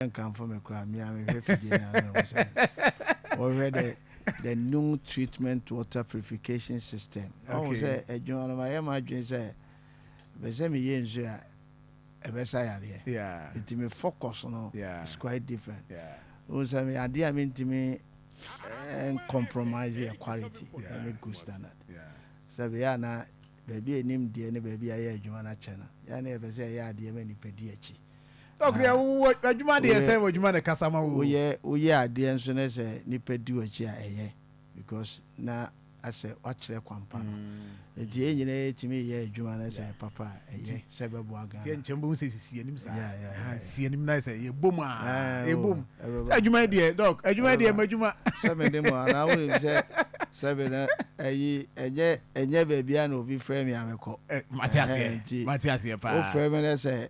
nkamfo me koraa me a mehwɛ fidie no a na mehu sɛ wɔhwɛ dɛ the new treatment water purification system ɔhu sɛ adwuma no mayɛ m'adwene sɛ bɛ sɛ meyɛ nsuo a ɛbɛsa yareɛ nti me focus no is quite different wohu sɛ me adeɛ a mentumi eh, compromise yɛ quality ɛne good standard sɛ bɛyɛ a na baabi a ɛnim deɛ ne baabi a yɛ adwuma no akyɛ no yɛ na yɛpɛ sɛ ɛyɛ adeɛ ma nipa di akyi Dɔkono yɛ wo adwuma deɛ sɛ wɔ adwuma na kasa ma wo. Woyɛ woyɛ adeɛ nso na sɛ nipa di w'akyi a ɛyɛ because na asɛ wakyerɛ kwampa no. Nti yɛn nyinaa yɛtumi yɛ adwuma na sɛ papa a ɛyɛ sɛ bɛboa Ghana. Tiɛ nkyɛn bom sɛ sisi anim saa. Sisi anim na sɛ yɛbom a yɛbom. sɛ adwuma yi deɛ dɔk adwuma yi deɛ madwuma sɛ mede mu anaa wonim sɛ sɛ me no ayi ɛnyɛ ɛnyɛ baabi a na obi frɛ me a mekɔ mate aseɛ mate aseɛ paa wofrɛ me no sɛ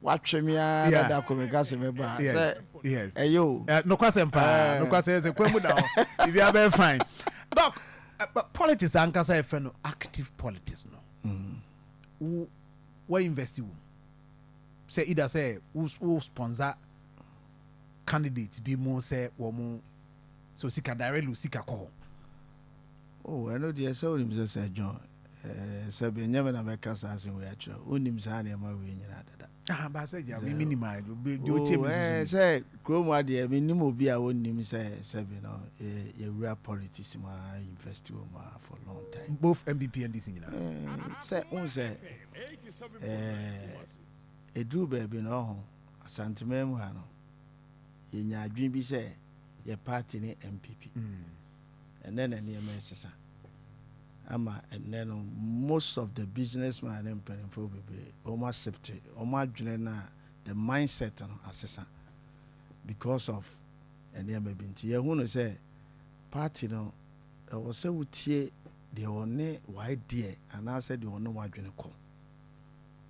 watwe me ara na da ko meka sɛ mɛba sɛ ɛyɛ o nokwasɛm paa nokwasɛm sɛ kwan mu da hɔ biribi abɛyɛ fine dɔk politics ankasa yɛfrɛ no active politics no mm. wo wa investi wo mu Sɛ ida sɛ wo wo sponsor candidate bi mo sɛ wɔ mo sɛ osika directly osika kɔ hɔ. Oh ɛno deɛ sɛ wonim sɛ sɛ John ɛɛ sɛ bɛ nyɛ me na bɛka saa asɛm wei akyerɛ wo wonim saa nneɛma wei nyinaa dada. Aha baa sɛ gya mi mi nim a deɛ otie mi nso nim. Sɛ kurom ha deɛ mi nim obi a onnim sɛ sɛbi no yɛwura politics mu a invest wɔ mu a for long time. Both NPP NDC nyinaa. Sɛ n sɛ. Ɛduruu baabi no, ɔho, Asanteman mu ha no, yɛnya adwene bi sɛ yɛ party ne MPP. Ɛnɛ na nneɛma ɛsesa. Ama ɛnɛ no, most of the businessman ne mpanimfoɔ bebree, wɔn asipte, wɔn adwene no a, the mindset no asesa because of nneɛma bi nti. Yɛhu no sɛ party no Ɛwɔ sɛ wotie deɛ ɔne w'adeɛ anaasɛ deɛ ɔne w'adwene kɔ.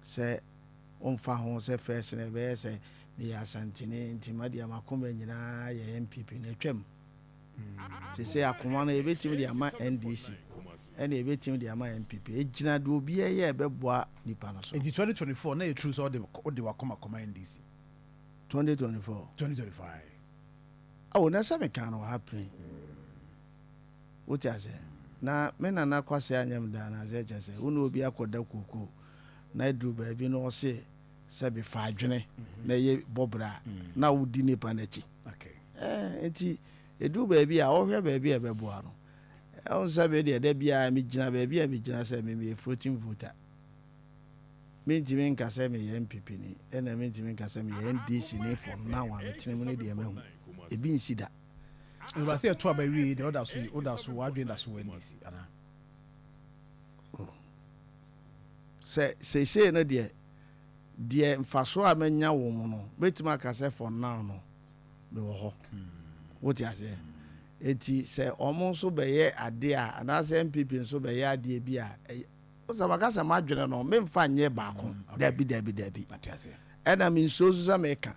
Sɛ womfa ho sɛ first no ɛbɛyɛ sɛ meyɛ Asanteni nti madeɛ m'akoma nyinaa yɛ NPP no, atwam. Seesei akoma no yɛbɛtumi de ama NDC ɛna yɛbɛtumi de ama NPP. Ɛgyina deɛ obiara yɛ a ɛbɛboa nipa no so. Nti 2024 no ɛyɛ true sɛ wode w'akoma kɔma NDC? 2024? 2024 ae. Ao na sɛ mekaa no wɔ ha pren. Wote aseɛ? Na me nana Kwase anyɛ me dɛ anaa sɛ kyerɛ sɛ wo ne obi akɔda kookoo na aduru baabi na ɔse sɛ bi fa adwene na ɛyɛ bɔbrɛ a na wodi nipa no akyi. Ɛɛ nti ɛduru baabi a wohwɛ baabi a ɛbɛboa no. Wohu sɛ me deɛ da biara megyina baabi a megyina sɛ me meyɛ floating voter. Mentumi nka sɛ meyɛ NPP ni, ɛna mentumi nka sɛ meyɛ NDC ni for now a metene mu no deɛ mahu. Ebi nsi da. Ɛba sɛ ɛto aba wie yi deɛ woda so yi, woda so, w'adwene da so wɔ NDC anaa? Oh. Sɛ seesei no deɛ, deɛ mfasoɔ a manya wɔ mu no, mɛtumi aka sɛ for now no, mewɔ hɔ. Hmm. Wote aseɛ? Eti sɛ wɔn nso bɛyɛ adeɛ a, anaasɛ NPP nso bɛyɛ adeɛ bi a, Sɛ maka sɛ m'adwene no, memfa nyɛ baako. Dabi, dabi, dabi. Ɛna mensuro nso sɛ meka.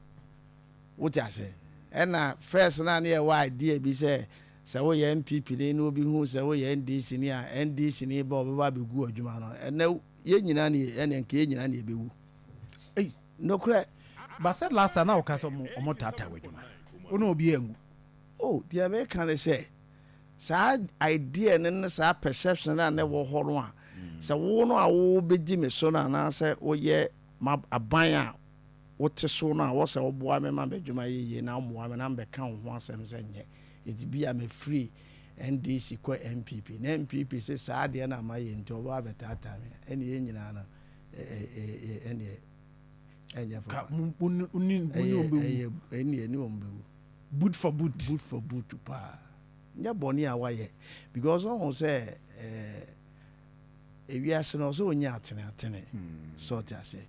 Wote aseɛ? Ɛna first no a ne yɛwɔ idea bi sɛ, sɛ woyɛ NPP ni na obi hu sɛ woyɛ NDC ni a, NDC ni ba a ɔbɛba abɛgu w'adwuma no. Ɛnɛ yɛn nyinaa ne yɛ, ɛne nka yɛn nyinaa ne yɛbɛwu. Ei, nokorɛ. But sɛ last time na woka sɛ wɔtaataa w'adwuma, wo ne obiara nwu. Oh, deɛ meka ne sɛ. saa idea no ne saa perception no a na ɛwɔ hɔ no a, sɛ wo no a wobɛdi me so no anaasɛ woyɛ m'aban a wote so no a, wɔ sɛ woboa me ma m'adwuma yɛ yie na womoa me na mebɛka wo ho asɛm sɛ nyɛ. Enti bi a mefiri NDC kɔ NPP na NPP se saa adeɛ no a mayɛ nti wɔbɛba abɛtaataa me a, ɛnneɛ yɛn nyinaa no ɛnneɛ ɛnyɛ papa. Ɛnneɛ ɛnneɛ ne wɔn bɛwu. boot for boot. Boot for boot paa nyɛ bɔne a wayɛ because ɔhu sɛ eh, ewiase no ɔsɛ ɔnya atene atene hmm. sɛ ɔte aseɛ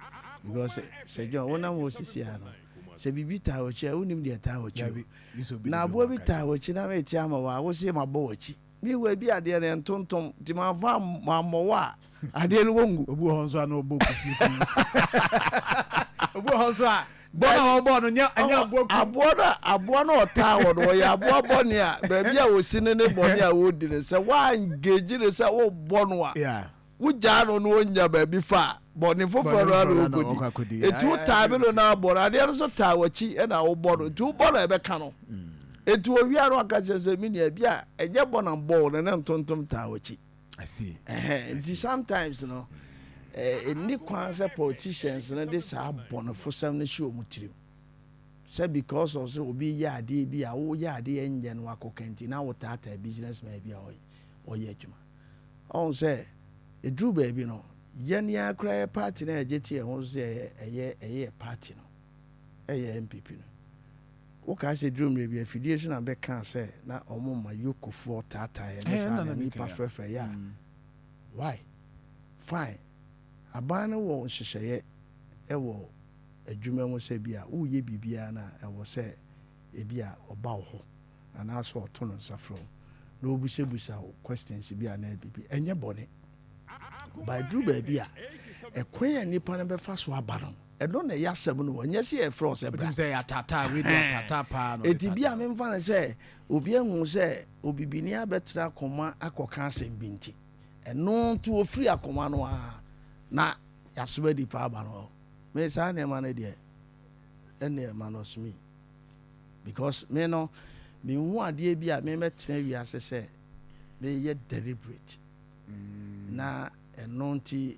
because sɛ John wonam hɔ sisi a no sɛ biribi taa w'akyi a wonim deɛ taa w'akyi na aboa bi taa w'akyi na mete ama wɔ a wose mabɔ w'akyi Me wɔ ebi adeɛ no ɛntontom nti manfa mammɔ wɔ a adeɛ no wɔngu. Obi wɔ hɔ nso a na ɔbɔ kusi kun. Obi wɔ hɔ nso a bɔ na ɔbɔ no nyɛ ɛnyɛ aboa kun. Aboa no aboa no ɔtaa wɔ no ɔyɛ aboa bɔne a baabi a ɔsi ne ne bɔne a ɔredi no sɛ woangage no sɛ wobɔ no a wogyaa no na onya baabi fa a, bɔne foforɔ no ara na ɔkɔdi. Enti wotaa bi no na abɔ no, adeɛ no nso taa w'akyi na wobɔ no, enti wobɔ no a ɛbɛka no. Enti ɔwia no ɔka kyerɛ sɛ, me nua, ebi a ɛnyɛ bɔ na mbɔ wo no, ne ntontom taa w'akyi. Nti sometimes no, ɛnni kwan sɛ politicians no de saa bɔnefosɛm no hyɛ wɔn tirim sɛ because of sɛ obi yɛ adeɛ bi a woyɛ adeɛ nyɛ no akɔka nti na wotaataa businessman bi a ɔyɛ adwuma. Ɔhu sɛ ɛduru baabi no, yɛn ara koraa yɛ party no a yɛgye to yɛn ho so sɛ ɛyɛ ɛyɛ yɛ party no ɛyɛ NPP no. Wokae sɛ ɛduru mmerɛ bi afidie so na bɛkaa sɛ na wɔn ma yokofoɔ taataa yɛn ne saa na nnipa frɛfrɛ yɛ a why? Fine, aban no wɔ nhyehyɛeɛ ɛwɔ adwuma mu sɛ bi a woreyɛ biribiara no a ɛwɔ sɛ ɛbi a ɔba wo hɔ. anaasɛ ɔto no nsa frɛ wo na obisabisa wo questions bi anaa biribi ɛnyɛ bɔne ba ɛduru baabi a ɛkwan a nipa no bɛfa so aba no ɛno na ɛyɛ asɛm no ɛnyɛ sɛ yɛfrɛ wo sɛ bra ɛti bi a memfa no sɛ obi ahu sɛ obibini abɛtena akoma akɔka asɛm bi nti ɛno nti wɔfiri akoma no a na yɛasoma nipa aba no me saa nneɛma no deɛ ɛnneɛ ma no ɔsome because me no menhu adeɛ bi a memɛtena wiase sɛ meyɛ deliberate mm. na ɛno nti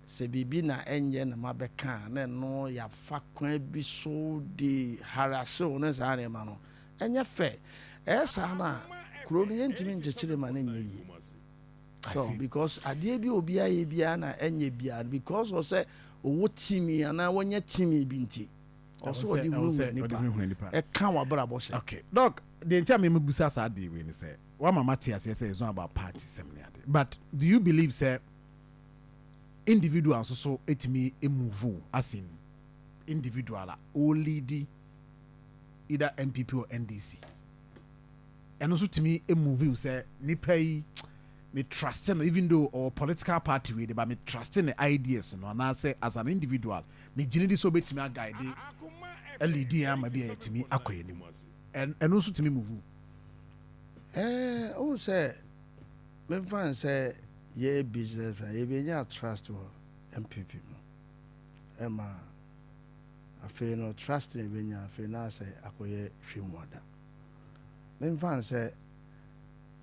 sɛ biribi na ɛnyɛ na mabɛka a na ɛno yɛafa kwan bi so de harasew ne saa nneɛma no ɛnyɛ fɛ ɛyɛ saa no a kuro no yɛntumi nkyekyere ma no nyɛ yie so because adeɛ bi obiara yɛ biara na ɛnyɛ biara because ɔsɛ ɔwɔ timi anaa wɔnyɛ timi bi nti ɔsɛ ɔde hunahuna nipa ɛka wabrabɔ hyɛ. okay doc deɛ nti a me mebusa saa adeɛ wei ne sɛ wama mate aseɛ sɛ it's not about party sɛm ne adeɛ but do you believe sɛ individual nso so ɛtumi move as in individual a ɔleadi either NPP or NDC. ɛno nso tumi move wo sɛ nipa yi me trust no even though ɔwɔ political party wei de ba me trust ne ideas no anaasɛ as an individual me gyina di sɛ obetumi aguide alidi yɛn ama bi a yɛtumi akɔ anim ɛno nso tumi move ɛɛ ohun sɛ memfa n sɛ yɛ business a yɛbɛnya trust wɔ mpp mu ɛma afei no trust na ebenya afei na asɛ akɔyɛ hwɛmuada. Me mfa nsɛ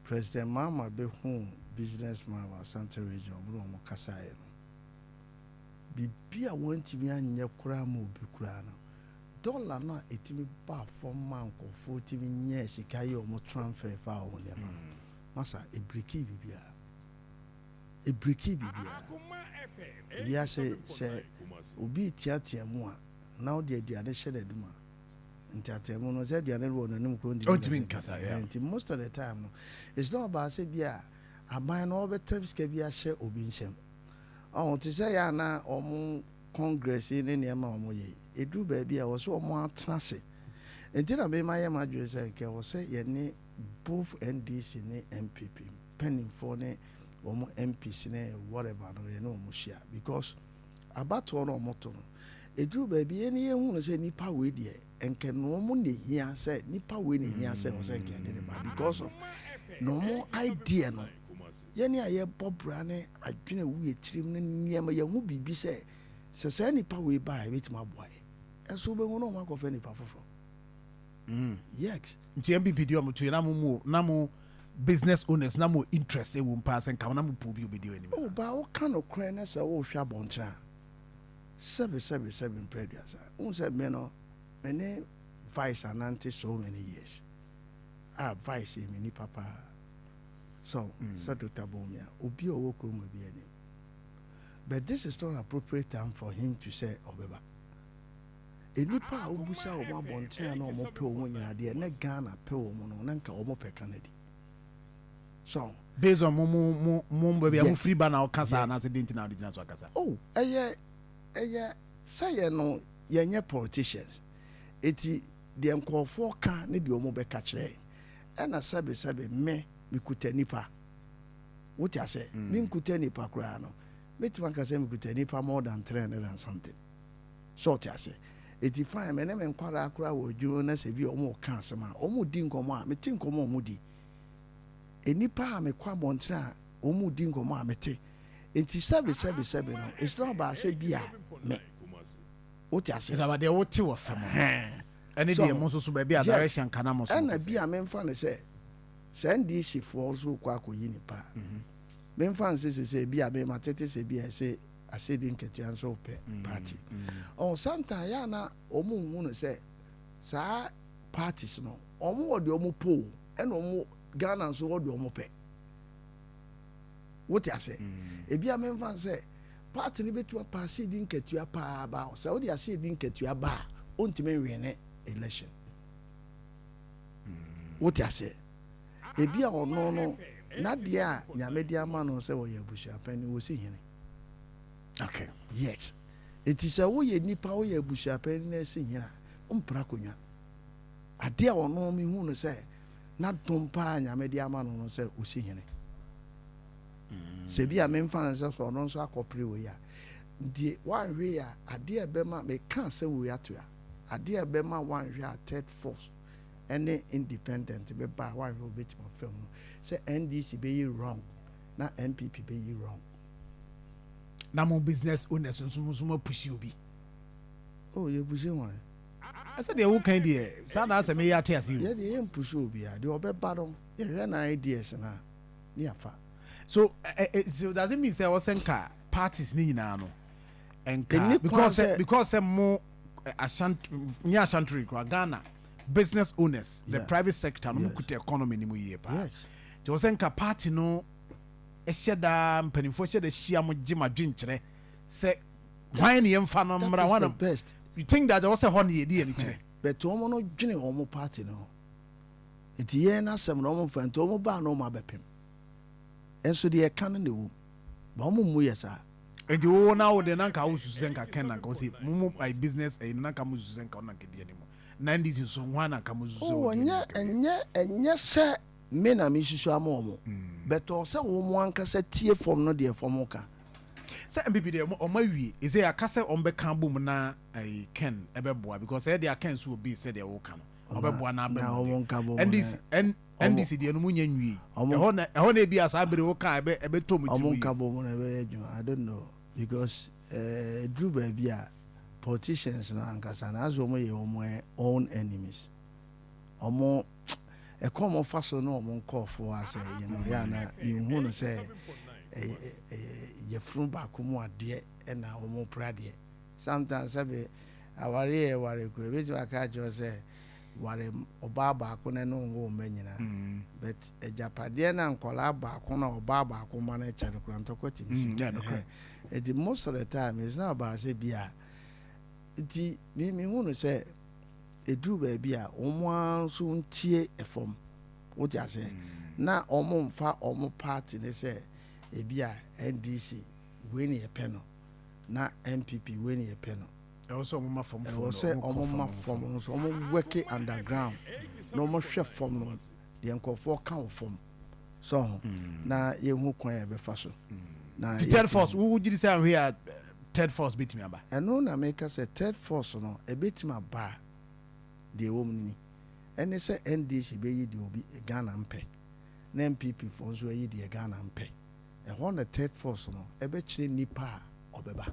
President Mahama bɛ huu business man wɔ Asante region ɔmo ne ɔmo kasaeɛ no biribi a wɔn ntumi anyɛ koraa ma obi koraa no dollar no a ɛtumi baa fɔm maa nkorɔfoɔ tumi nyɛɛ sika yɛɛ ɔmo tranfer faa ɔmo nneɛma no masa ɛbreakii biribiara. Ebrekii biribiara. Wiase, sɛ obi reteatea mu a, na wode aduane hyɛ n'anom a, nteatea mu no, sɛ aduane no wɔ n'anom kura ɔntumi nkasa. Nti most of the time no, it's not about sɛ bi a aban no wɔbɛtɛm sika bi ahyɛ obi nsam. Ɔho, te sɛ yɛ a na wɔn congress yi ne nneɛma a wɔn yɛ yi, ɛduru baabi a wɔ sɛ wɔn atena ase. Nti na mema yɛ m'adwene sɛ nka ɛwɔ sɛ yɛne both NDC ne NPP. panimfoɔ ne wɔn MPs ne whatever no yɛne wɔn hyia because abatoɔ no wɔn to no eduru baabi yɛn ne yɛn hu no sɛ nipa wei deɛ nkɛ na wɔn na ehia sɛ nipa wei na ehia sɛ wɔsɛ nkɛ yɛde ne ba because of na wɔn idea no yɛne a yɛbɔ bra ne adwene wu yɛ tirim ne nneɛma yɛn ho biribi sɛ sɛ saa nipa wei ba a ebetumi aboa yɛ ɛso bɛhu na wɔn akɔfɛ nipa foforɔ mm yes. Nti MBB deɛ ɔmo to yɛ na mo mo na mo business owners na mo interest ɛwɔ mu paa sɛ nka mo na mo pɛ obi ɔbɛdi anim saa. Ɔbaa wo ka nokorɛ na sɛ wo hwɛ abɔnten a sɛbi sɛbi sɛbi mprɛ aduasa wohu sɛ me no me ne vice anante so many years a vice yɛ me nipa paa sɛ wo sɛ Doctor Bawumia obi a ɔwɔ kurom ɔbɛdi anim but this is not appropriate time for him to sɛ ɔbɛba. Nnipa a wobisa wɔn abɔnten a na wɔpɛ wɔn nyinaa deɛ na Ghana pɛ wɔn no na nka wɔn pɛ ka no adi. So. Based on mo mo mo mo baabi a mo firi ba na ɔka saa anaasɛ den ti na ɔde gyina so akasa. Oh ɛyɛ ɛyɛ sɛ yɛn no yɛn nyɛ politicians eti deɛ nkorɔfoɔ ka ne deɛ wɔn bɛka kyerɛ yɛn ɛna sɛbe sɛbe me me kuta nipa wote asɛ me nkuta nipa koraa no mɛtumi aka sɛ me kuta nipa more than three hundred and something. So ɔte aseɛ? Enti fine, me ne me nkwadaa koraa wɔ adwuma mu na sɛ bi a wɔreka asɛm a, wɔredi nkɔmmɔ a, mete nkɔmmɔ a wɔredi. Nnipa a mekɔ abɔnten a wɔredi nkɔmmɔ a, mete. Enti sɛbe, sɛbe, sɛbe no, ɛhyerɛn wo baa sɛ bi a me. Wote aseɛ? Ɛsɛ aba deɛ wote wɔ fam no. Ɛne deɛ mo nso so baabi a direction ka na mo nso mo kɔ. Ɛna bi a memfa no sɛ sɛ NDC foɔ nso rekɔ akɔyi nnipa a, memfa no sɛ sɛ sɛ bi a me matete sɛ bi a ɛsɛ asedi nketewa nso pɛ party ɔho sometimes yɛ a na wɔn nhu no sɛ saa parties no wɔn wɔ deɛ wɔn pɛ o ɛna wɔn Ghana nso wɔ deɛ wɔn pɛ wote ase ebi a mɛnfa sɛ party no betumi apa asedi nketewa paa ba sɛ wɔde asedi nketewa ba a wɔntumi nwɛn ne election wote ase ebi a ɔno no n'adeɛ a nyame de ama no sɛ wɔyɛ abusuapɛn no wɔsi hene. Okay. Yes. Enti sɛ woyɛ nipa, woyɛ abusuapɛn na ɛsi hene a, wompere akonnwa. Ade a ɔno mehu no sɛ na dom paa Nyame de ama no no sɛ osi hene. Sɛ bi a memfa no sɛ sɛ ɔno nso akɔpere wei a, nti wanhwe a ade a ɛbɛma meka sɛ wei ato a ade a ɛbɛma wanhwe a third force ɛne independent bɛba a wanhwe a obetumi afam no sɛ NDC bɛyɛ wrong na NPP bɛyi wrong. Na mo business owners nso mo nso mo apushi obi. Oh, yɛ pushi wɔn. Ɛsɛ deɛ wo kan deɛ saa na asɛm yɛ ate ase o. Yɛ deɛ yɛ mpushi obi a deɛ ɔbɛba no yɛhwɛ na ideas na ne yafa. So eh, eh, so does it mean sɛ ɔsɛ nka parties ne nyinaa no nka because sɛ because sɛ mo eh, ashant nye ashantore kura Ghana business owners yeah. the private sector no yeah. mo kuta economy ni mo yie paa. Yes. Nti ɔsɛ nka party no hyɛ da mpanimfoɔ hyɛ da hyia mo gye mo adwenkyerɛ sɛ hwan ne yɛmfa no mmra hwan na best you think that ɔwɔ sɛ hɔ ne yɛde yɛn ani kyerɛ. But wɔn no dwene wɔn party no ho nti yɛn n'asɛm no wɔn mfa nti wɔn baa no wɔn abɛpem nso deɛ ɛka no na ɛwɔ mu ba wɔn mmu yɛ saa. Nti wo na wo de na nka wo susu sɛ nka Ken na nka ɔsi mo mo by business ɛyi na nka mo susu sɛ nka ɔna nka di anim na NDC nso hwan na nka mo susu sɛ ɔdi anim. Ɛnyɛ ɛnyɛ ɛnyɛ sɛ Me na mesusu ama wɔn. But ɔwɔ sɛ wɔn ankasa tie fam no deɛ fam ka. Sɛ npp deɛ wɔn awie. Seisei aka sɛ wɔn bɛka abom na ɛyi Ken ɛbɛboa because ɛyɛ deɛ Ken nso wɔ base sɛdeɛ woka no. Wɔn bɛboa na aba mu deɛ. NDC N NDC deɛ no mu nyɛ nwie. Ɛhɔ na ɛhɔ na ebi a saa bere woka a ɛbɛ ɛbɛtɔ wɔn tirim yie. Wɔn nka bom na ɛbɛyɛ adwuma. I don't know because ɛɛ eduru baabi a politicians no ankasa no as wɔn yɛ wɔn own enemies. ɔmo ɛkɔ ɔmo fa so na ɔmo nkɔɔfo asɛ yɛ no yɛ ana yɛnhu no sɛ ɛyɛ ɛyɛ yɛfunu baako mu adeɛ ɛna ɔmo pra adeɛ sometimes sɛbi awari yɛ wari kura ebi tuma aka akyerɛ sɛ wari ɔbaa baako na ɛno nwo mma nyinaa mm. but agyapadeɛ na nkɔlaa baako na ɔbaa baako ma no ɛkyɛ no kura ntɔkwa ti mi si ɛdi mm, most of the time it's not about sɛ bi a nti mi mi hu no sɛ. Ɛduru baabi a, wɔn ara nso ntie fam. Wote aseɛ? Na wɔmfa wɔn party no sɛ ebia NDC wei na yɛpɛ no, na NPP wei na yɛpɛ no. Ɛwɔ sɛ wɔma fam fam no. Ɛwɔ sɛ wɔma fam nso. Wɔwɔke underground na wɔhwɛ fam no deɛ nkurɔfoɔ ka wɔ fam sɛ ho na yɛhu kwan a yɛbɛfa so na Ti third force wo gyiri sɛ ahwe a third force bɛtumi aba ɛno na meka sɛ third force no ɛbɛtumi aba a deɛ ɛwɔ mu no ni ɛne sɛ NDC bɛyi deɛ obi Ghana mpɛ na NPP foɔ nso ayi deɛ Ghana mpɛ ɛhɔ na third force no ɛbɛkyerɛ nipa a ɔbɛba